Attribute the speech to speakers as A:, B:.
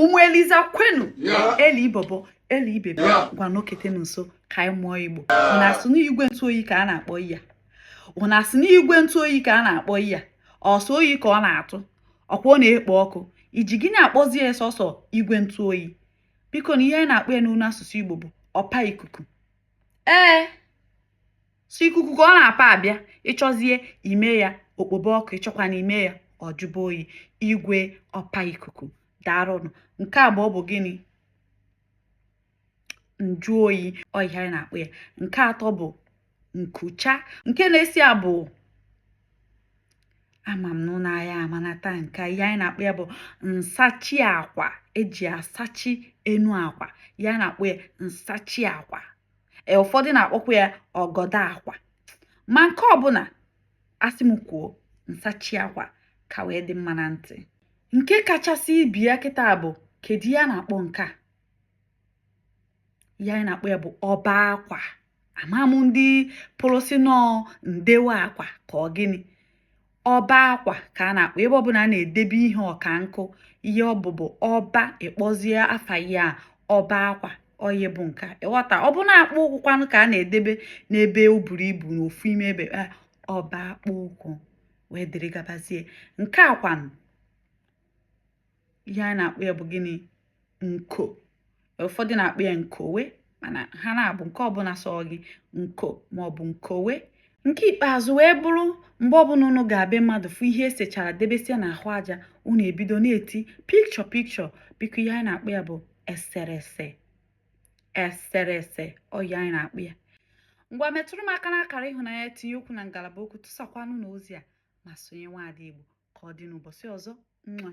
A: ụmụ eliza kwenu eli ibobo eli ibebe ngwa nọketenụ nso ka anyị mụọ igbo unu asị n'igwe ntụ oyi ka a na-akpọ iya unu asị n'igwe ntụ oyi ka a na-akpọ iya ọ sọ oyi ka ọ na-atụ ọ kwa ọ na-ekpo ọkụ i ji gịnị akpọzi ya sọsọ igwe ntụ oyi biko na ihe anyị na-akpọ ya n'onu asụsụ igbo bụ ọpa ikuku ee sọ ikuku ka ọ na-apa abịa ị chọzie ime ya o kpobe ọkụ ị chọkwanụ ime ya ọ jụba oyi igwe ọpa ikuku daarụnụ nke abụọ bụ gịnị njụ oyi ọ ihe anyị na-akpọ ya nke atọ bụ nkucha nke na-esi ya bụ ama m n'unu aya amanata nke ihe anyị na-akpọ ya bụ nsachi akwa e ji asachi enu akwa ihe a na-akpọ ya nsachi akwa e, ụfọdụ na-akpọkwa ya ọgọdọ akwa ma nke ọbụla a sị m kwuo nsachi akwa ka wee dị mma na ntị nke kachasị ibe ya kịta bụ kedu ihe a na-akpọ nke a ihe anyị na-akpọ ya bụ ọba akwa ama m ndị kpọrọ sị na ọ ndewe akwa ka ọ gịnị ọba akwa ka a na-akpọ ebe ọbụla a na-edebe ihe ọka nkụ ihe ọ bụ bụ ọba ị kpọzie afa ya ọba akwa ọ ya bụ nka ị ghọta ọ bụ na akpụ ụkwụ kwanụ ka a na-edebe n'ebe o buru ibu n'ofu ime ebe eh, ọba akpụ ụkwụ wee dịrị gabazie nke a kwanụ ihe anyị na-akpọ ya bụ gịnị nko ụfọdụ na-akpọ ya nkowe mana ha n'abụọ nke ọbụla sọ gị nko maọbụ nkowe nke ikpeazụ wee bụrụ mgbe ọbụla unu ga be mmadụ fụ ihe e sechara debesia n'ahụ aja unu ebido na-eti picture picture biko ihe anyị na-akpọ ya bụ eserese eserese ọ ihe anyị na-akpọ ya ngwa metụrụ m aka n'akara ịhụnanya tinye okwu na ngalaba okwu tụsakwanụ na ozi a ma sonye nwaada Igbo ka ọ dị n'ụbọchị ọzọ nwa